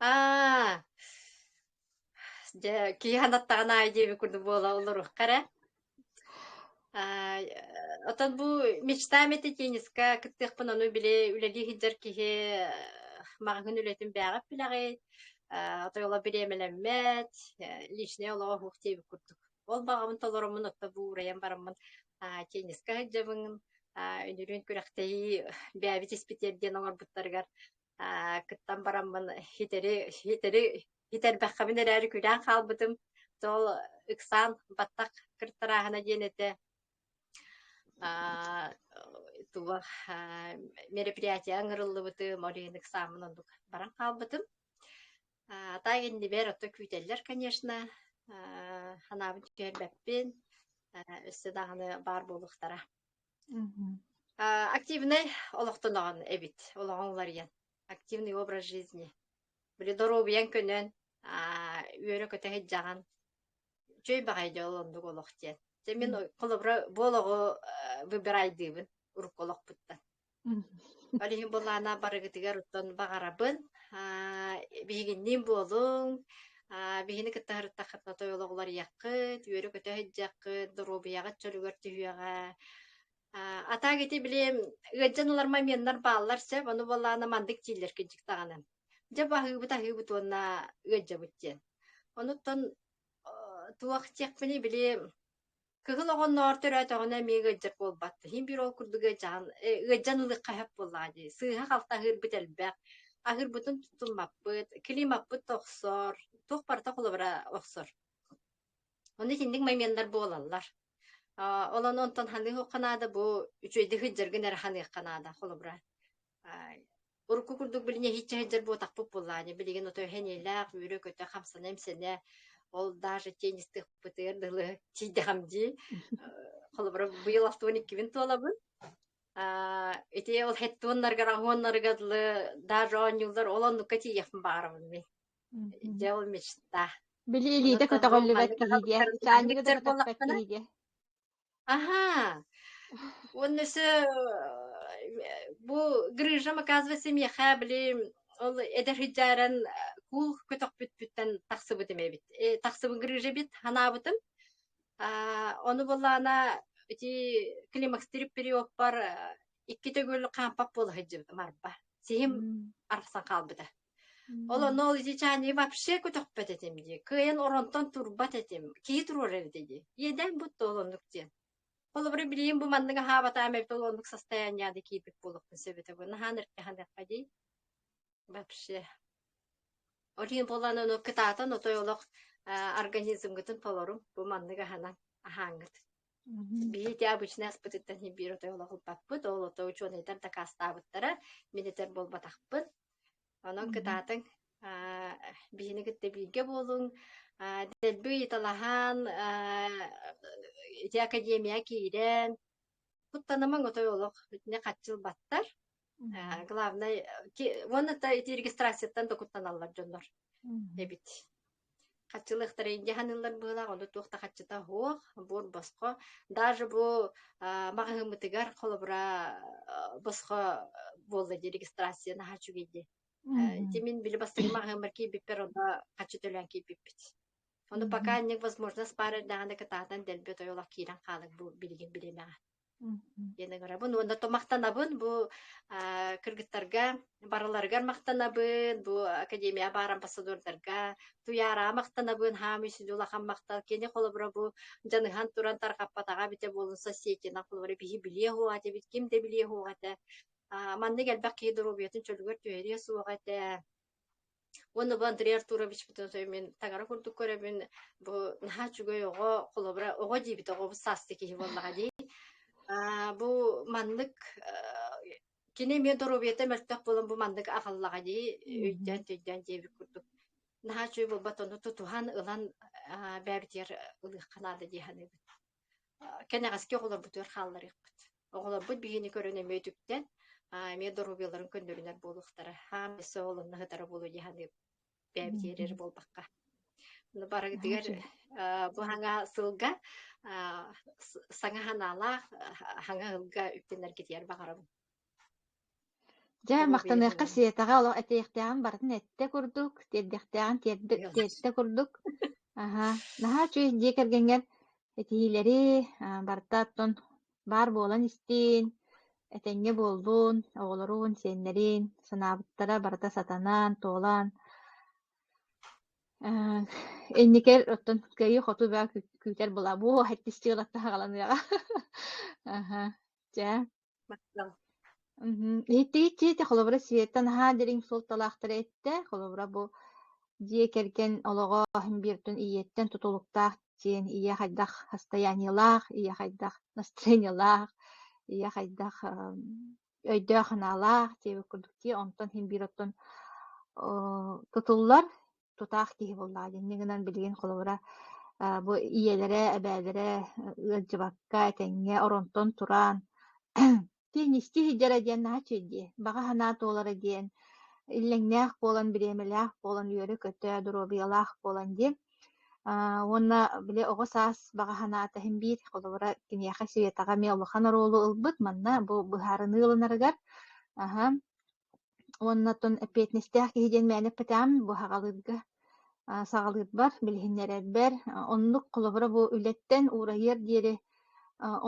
Аа, дьэ, киһи анаттаҕын аайы диэбит курдук буола олоруохха эрэ. Аа, оттон бу мечта мэти тенниска кыттыахпын ону били үлэлии сылдьар киһи э, маҕаһыын үлэтин бэйэҕит билэҕит. Аа, отойола бириэмэлэммэт, э, личнэй олоҕо оһуох диэбит курдук. Ол баҕабын толороммун отто бу уурайан бараммын аа, тенниска сылдьабын. Аа, үнүрүн күрэхтэһии бэйэбит испитиэр диэн оҥорбуттарыгар Аа, кыттан бараммын хитэри, хитэри хитэрбэххэмин эрээри күлээн хаалбытым. Тоол ыксаан баттах кыртарааһына диэн этэ. Аа, туга аа, мероприятие ыҥырыллыбыты Морин ыксаамын оннук баран хаалбытым. Аа, та иннибэр отто күүтэллэр, конечно. Аа, ханаабын түһэрбэппин. Өссө даҕаны баар буолуохтара. активнай олохтоноҕун эбит олоҕуҥ уларыйан активный образ жизни били доруобуйаҥ көнөн үөрэ-көтө сыдьаҕан үчүгэй баҕайы дьол оннук олох диэн дьэ мин холобура буол оҕо выбирайдыыбын урукку олохпуттан Балиһи былаана барыгытыгар уттан баҕарабын. Аа, биһигинниин буолуҥ. Аа, биһини кытта сырыттаххытына тойолоҕу уларыйаххыт, үөрү көтө сылдьаххыт, доруобуйаҕыт чөлүгэр түһүөҕэ. Аа, атаак ити билиэм, ыалдьан ылар моменнар бааллар сөп, ону былаана маннык дииллэркиндик даҕаны. Дьэ, бу аһыыбыт аһыыбыт уонна ыалдьабыт диэн. Онуттан э, туох диэхпиний, били Кыһын оҕонноор төрөөтөҕүнэ эмиэ ыалдьар буолбат. Иһин биир ол курдук ыалдьан, ыалдьан ылыахха сөп буоллаҕа дии. Сыыһа-халты аһыырбыт элбэх. Аһыырбытын тутуммаппыт, климаппыт тохсор, туох барыта холобура охсор. Ону итинник моменттар буолаллар. А, олон онтон ханыы наада бу үчүгэйдик сыддыргын эрэ ханыахха наада холобура. урукку курдук билин иһиччэ сылдьар буотахпыт буоллаане билигин ото эһэниэлээх үөрэ-көтө хамсана-имсэнэ ол даже теннистыхпытыгар дылы тиийдэхам дии холобура быйыл алтыбын иккибин туолабын ити ол хеттуоннаргар аһуоннарыга дылы даже оонньууллар ол оннукка тиийэхпин баарабын мин дьэ ол мечта били илиитэ көтөҕүллүбэт киһигэ чаанньыгы да көтөхпөт киһигэ Ага. Уонна все бу грыжам оказывается миэхэ били ол эдэр хыдьааран кул көтөхпүтпүттэн тахсыбытым эбит. Э, тахсыбын грыжа бит ханаабытым. Аа, ону буллаана ити климакстырып периоппар икки төгүл хаампап буола сылдьыбытым арба. Сиһим арахсан хаалбыта. Ол онно ол ичичаани вообще көтөхпөт этим дии. Кыайан оронтон турбат этим. Кии туруор эбитэ дии. Иэдээн бут да олоннук диэн. Холобура билиим бу маннык аһаабатаам эбит ол оннук састаянньаады киипит буолуохпун сөбүтэ бу наһаан эркэһаныахха дии. Вообще. Олин болан ону кытаатан отой олох организмгытын толорум бу маннык аһанан аһааҥҥыт. Биһиги обычнай аспытыттан иһин биир отой олоһурбаппыт, ол отой учуонайдар дакаастаабыттара, мин этэр буолбатахпыт. Онон Мгм. кытаатыҥ, аа, биһини кытта бииргэ буолуҥ, аа, дэлби ыйыталаһан, аа, ити академияҕа киирэн, куттанымаҥ отой олох итини хаччыл баттар. Э, главное, уонна да ити регистрацияттан докуттаналлар дьоннор эбит. Хаччылыахтара индиһаныллар быылаах, ону туох да хаччыта оһуох, буор босхо. Даже бу маҕаһыыммытыгар холобура босхо буолла дии регистрацияны хачугийди. Тимин били бастыгы маҕаһыыммар кииппиппер онно хаччы төлөөн кииппиппит. Ону пока невозможно спарар даҕаны кытаатан дэлби тойолох киирэн хаалык бу билигин билимэҕэ. диэн ыҥырабын уонна то махтанабын бу кыргыттарга барыларыгар махтанабын бу академияға баар амбассадордарга туйаараҕа махтанабын хаам үсүн улахан махтал кини холобура бу дьаныһан туран тарҕаппатаҕа эбитэ буолун соседина холобура биһи билиэ суоҕа этибит ким да билиэ суоҕа этэ маннык элбэх киһи доруобуйатын чөлүгэр түһэриэ суоҕа этэ Уонна бу Андрей Артуровичпытын сөбүмүн таҥара курдук көрөбүн. Бу наһаа үчүгэй оҕо, холобура оҕо диэбит оҕо саасты киһи буоллаҕа дии. Аа, бу маннык э, кини эмиэ доруобуйата мөлтөх буолан бу маннык аҕаллаҕа дии өйдөөн өйдөөн диэбит курдук. Наһаа үчүгэй буолбат ону тутуһан ылан бэйэбитигэр ылыахха наада дии саныыбын. кэнэҕэски оҕолорбутугар хаалларыахпыт. Оҕолорбут биһиги көрөн эмиэ үтүктэн, эмиэ доруобуйаларын көннөрүнэр буолуохтара. Хаам өссө оҕолонно сытара буолуо дии саныыбын. Бэйэбит иэрэр буолбакка. Барытыгар бу саҥа сылга саҥа санаалаах саҥа ыылга үктэнэргитигэр баҕарабын. Дьэ, махтаныахха сиэтэҕэ олох этиэхтээҕин барытын эттэ курдук, тиэрдэхтээҕин тиэрдэ тиэртэ курдук. Аһа, наһаа үчүгэй дьиэ кэргэҥҥэр этиилэри а, барыта оттон баар буолан истиин, этэҥҥэ буоллун, оҕолоруун, сиэннэриин санаабыттара барыта сатанан, туолан, э, инникэр оттон кыайыы-хотуу бөҕө күүтэр була, буо, иккис чыылаттаһа аҕаланыаҕа. Аха, дьэ, Иһиттигит киһитэ холобура Света наһаа дириҥ суолталаахтары эттэ. Холобура бу дьиэ кэргэн олоҕо иһин биэртин ийэттэн тутулуктаах диэн ийэ хайдах хастайаанньылаах, ийэ хайдах настроениелаах, ийэ хайдах өйдөөх-санаалаах диэбит курдук дии. Онтон иһин биир оттон тутуллар. тутаах киһи буоллаҕа дии. Инньэ гынан билигин холобура э, бу ийэлэрэ, эбээлэрэ э, ыалдьыбакка этэҥҥэ оронтон тураан тиин исти сылдьара диэн наһаа үчүгэй Баҕа санаа туолара диэн иллэҥнээх буолан, бириэмэлээх буолан, үөрэ-көтө, доруобуйалаах буолан диэн а, уонна били оҕо саас баҕа санаата иһин биир холобура киниэхэ Светаҕа эмиэ улахан оруолу ылбыт манна бу быһаарыныы ылынарыгар аха уонна оттон эппиэтинэстээх киһи диэн мээнэ эппэтэҕим бу саҕалыырга саҕалыырбар, билиһиннэрэрбэр. Оннук холобура бу үлэттэн уурайыар диэри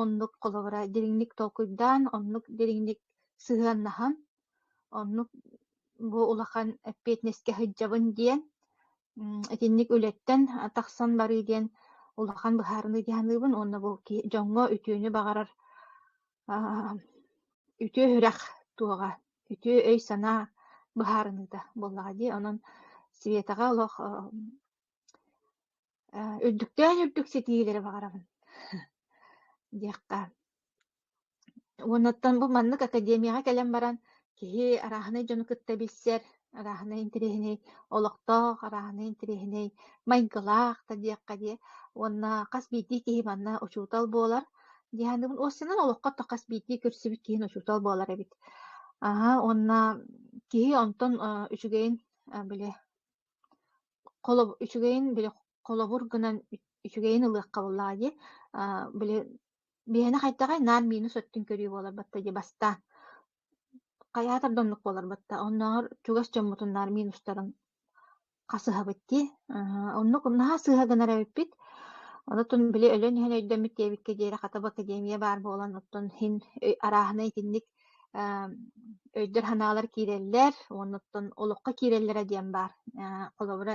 оннук холобура дириҥник толкуйдаан, оннук дириҥник сыһыаннаһан, оннук бу улахан эппиэтинэскэ сылдьабын диэн, итинник үлэттэн тахсан барыы диэн улахан быһаарыныы дии саныыбын уонна бу дьоҥҥо үтүөнү баҕарар Үтүө үрэх туоҕа, үтүө өй-санаа быһаарыныыта буоллаҕа дии. Онон Светаҕа олох үрдүктээн-үрдүк ситиһиилэри баҕарабын диэххэ. Уоннаттан бу маннык академияҕа кэлэн баран Киһи арааһынай дьону кытта билсэр, арааһынай интэриэһинэй олохтоох, арааһынай интэриэһинэй майгылаах да диэххэ дии уонна хас биирдии киһи манна учуутал буолар. Дианабын уоссанан олоххо то хас биирдии көрсүбүт киһи учуутал буолар эбит. Аһа уонна киһи онтон э, үчүгэйин э, били холоб үчүгэйин били холобур гынан үчүгэйин ылыахха буоллаҕа дии. Э, били Биһэни хайдаҕай наар миинэ сөттүн көрүү буолар батта дии бастаан. Хайаатар да оннук буолар батта. Оннооҕор чугас дьоммутун наар миин устарын хасыһабыт дии. Оннук наһаа сыыһа гынар эбиппит. Онтон били өлөн иһэн өйдөммүт диэбиккэ диэри хата бу академия баар буолан, оттон иһин арааһына итинник өйдөр-санаалар киирэллэр, уонна оттон олоххо киирэллэрэ диэн баар. Холобура,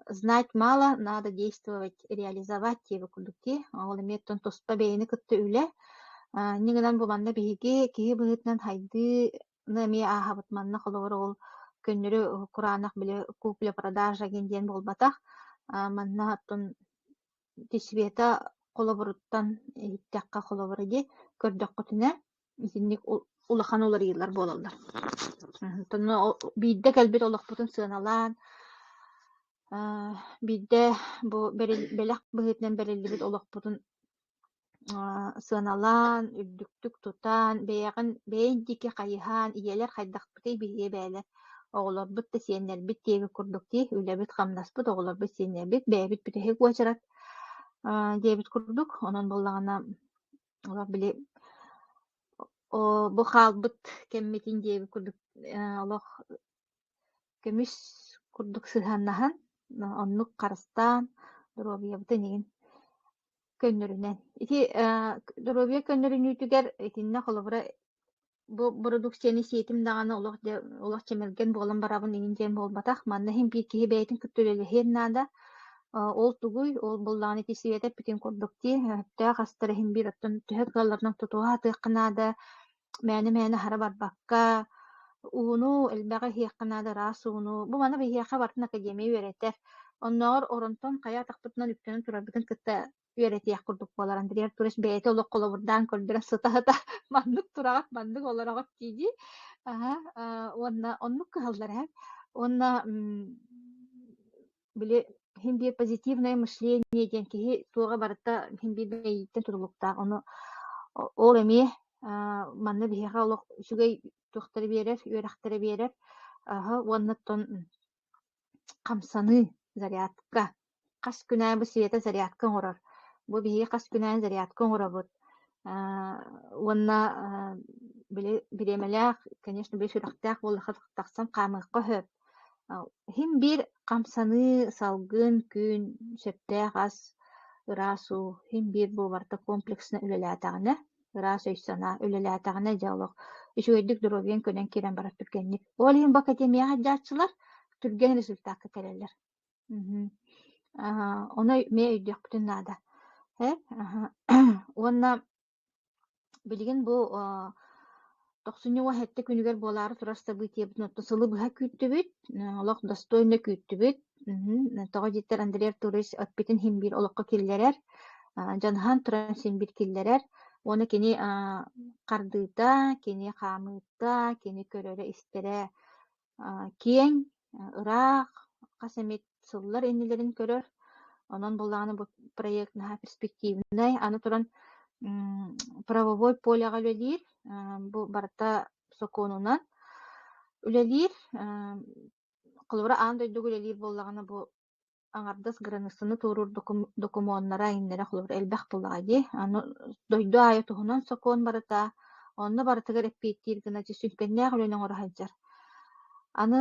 Знать мало, надо действовать, реализовать диэбит курдук дии. Ол эмиэ оттон туспа бэйэни кытта үлэ. А, инньэ гынан бу манна биһиги киһи быһыытынан хайдыы эмиэ ааһабыт. Манна холобур ол көннөрү кураанах били купля-продажа диэн буолбатах. А, манна оттон Света холобуруттан иһиттэххэ холобура дии, көрдөххүтүнэ итинник улахан уларыйыылар буолаллар. Оттон биирдэ кэлбит олохпутун сыаналаан, биирдэ бу бэлэх быһыытынан бэриллибит олохпутун сыаналаан, үрдүктүк тутан, бэйэҕин бэйэҥ диэки хайыһан, ийэлэр хайдахпытый биһиэ бээлэр. Оҕолорбут да сиэннэрбит диэки курдук дии, үлэбит-хамнаспыт, оҕолорбут сиэннэрбит, бэйэбит бүтэһик уочарат диэбит курдук. Онон буоллаҕына олох били бу хаалбыт кэммитин диэбит курдук олох көмүс курдук сыһыаннаһан оннук харыстаан доруобуйабытын иҥин Көннөрүнэн. Ити э, доруобуйа көннөрүнүүтүгэр итиннэ холобура бу бородууксуйаны сиэтим даҕаны олох дьэ олох чэмэлгэн буолан барабын инин диэн буолбатах. Манна иһин биир киһи бэйэтин кытта үлэлэһиэн наада. Э, ол тугуй? Ол буллаҕына ити сиэтэр путин курдук дии. Өптөөх астар иһин биир оттон төһө кыалларынан тутуһа атыахха наада. мээнэ-мээнэ аһара барбакка, ууну элбэҕи иһиэххэ наада, ыраас ууну. Бу маны биһиэхэ барытын академия үөрэтэр. Оннооҕор Оронтон хайа атахпытынан үктэнэн турарбытын кытта үөрэтиэх курдук буолар. Андрея Артурович бэйэтэ олох холобурдаан көрдөрө сытаата. маннык тураҕак, маннык олороҕут дии-дии. Аһа, а, уонна оннук кыһаллар эһэ. Уонна м, били син биир позитивное мышление диэн киһи туоҕа барыта син биир мэйииттэн тутулуктаах. Ону ол эмиэ манна биһиэхэ олох үчүгэй туохтары биэрэр, үөрэхтэрэ биэрэр аһы уоннаттан хамсаныы зарядка, хас күнээбит света зарядка оҥорор. Бу биһиги хас күнээн зарядка оҥоробут. уонна били бириэмэлээх, конечно, били сүрэхтээх буоллахха тахсан хаамыахха сөп. Иһин биир хамсаныы, салгын күн, сөптөөх ас, ыраас уу, иһин биир буолбарта комплексно үлэлээтэҕинэ, ыраас өй-санаа үлэлээтэҕинэ, дьэ олох үчүгэйдик доруобуйаҥ көнөн киирэн барар түргэнник. Ол иһин бу академияҕа дьааччылар түргэн результатка кэлэллэр. Мгм. Аһа, ону өй- эмиэ өйдүөхпүтүн наада. Һэ? Аһа. Уонна билигин бу а, тохсунньу уон сэттэ күнүгэр буолаары турар событиебытын оттон сылы быһа күүттүбүт, э, олох достойно күүттүбүт. Мгм. Тоҕо диэтэр Андреа Турович эппитин син биир олоххо киллэрэр, а, дьаныһан туран син биир киллэрэр. Уонна кини а, хардыыта, кини хаамыыта, кини көрөрө-истэрэ киэҥ, ыраах хас эмит сыллар иннилэрин көрөр. Онон бу даҕаны бу проект наһаа перспективнай. Аны туран правовой полеҕа үлэлиир. Бу барыта сокуонунан үлэлиир. Холобура, аан дойдуга үлэлиир буоллаҕына бу аҥардас границаны туоруур докумуоннара, айаннара холобура элбэх тыллаҕа дии. Аны дойду аайы туһунан сокуон барыта, онно барытыгар эппиэттиир гына сүҥкэннээх үлэни оҥоро сылдьар. Аны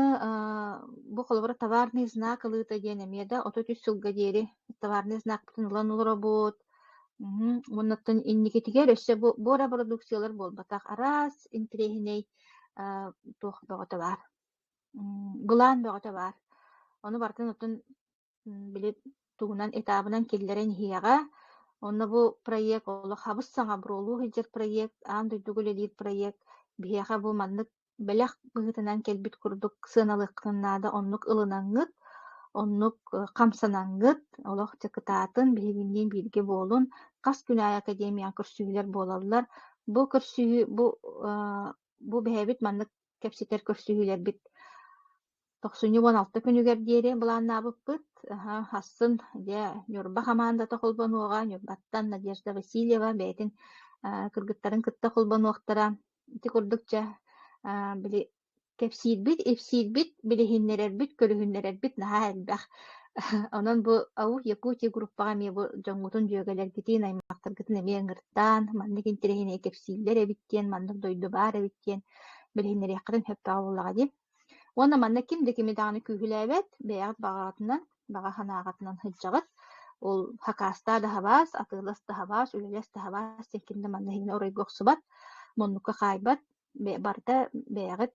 бу холобура товарный знак ылыыта диэн эмиэ да отут үс сылга диэри товарный знакпытын ылан олоробут. Уоннаттан инникитигэр өссө бу эрэ бородууксуйалар буолбатах араас интириэһинэй туох бөҕөтө баар Былаан бөҕөтө баар. Ону барытын оттон били тугунан этабынан киллэрэн иһиэҕэ. Онно бу проект олох хабыс-саҥа буруолуу сылдьар проект, аан дойдуга үлэлиир проект. Биһиэхэ бу маннык бэлэх быһыытынан кэлбит курдук сыаналыаххын наада, оннук ылынаҥҥыт, оннук хамсанаҥҥыт, олох дьокутаатын, биһигинниин бииргэ буолун. Хас күн аайы академияҕа көрсүһүүлэр буолаллар. Бу көрсүһүү, бу бэйэбит маннык кэпсэтэр көрсүһүүлэрбит тохсунньу уон алта күнүгэр диэри былааннаабыппыт. Асын дьэ Ньурба хамаандата холбонуоҕа, Ньурбаттан Надежда Васильева бэйэтин кыргыттарын кытта холбонуохтара. Ити курдук дьэ били кэпсиирбит, ипсиирбит, билиһиннэрэрбит, көрүһүннэрэрбит наһаа элбэх. Онон бу АУХ Якутия группаҕа эмиэ бу дьоҥҥутун дьүөгэлэргитин, аймахтаргытын эмиэ ыҥыртаан, маннык интэриэһинэй кэпсииллэр эбит диэн, маннык дойду баар эбит диэн билиһиннэриэххитин сөп буоллаҕа дии уонна манна ким да кими даҕаны күүһүлээбэт бэйэҕит баҕаҕатынан баҕа санааҕытынан сылдьаҕыт ол хакаастаа даһабаас атыылас даһабаас үлэлэс даһабаас диэн ким да манна иһин оройго охсубат муннукка хаайбат барыта бэйэҕит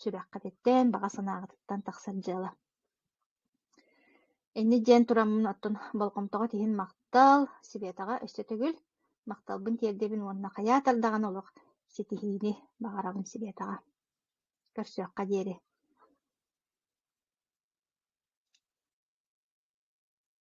сүрэххититтэн баҕа санааҕытыттан тахсар дьыала Инньэ диэн тураммын оттон болҕомтоҕо тиһин махтал, Светаҕа өссө төгүл махталбын тиэрдэбин уонна хайаа тардаҕын олох ситиһиини баҕарабын Светаҕа. Көрсүөххэ диэри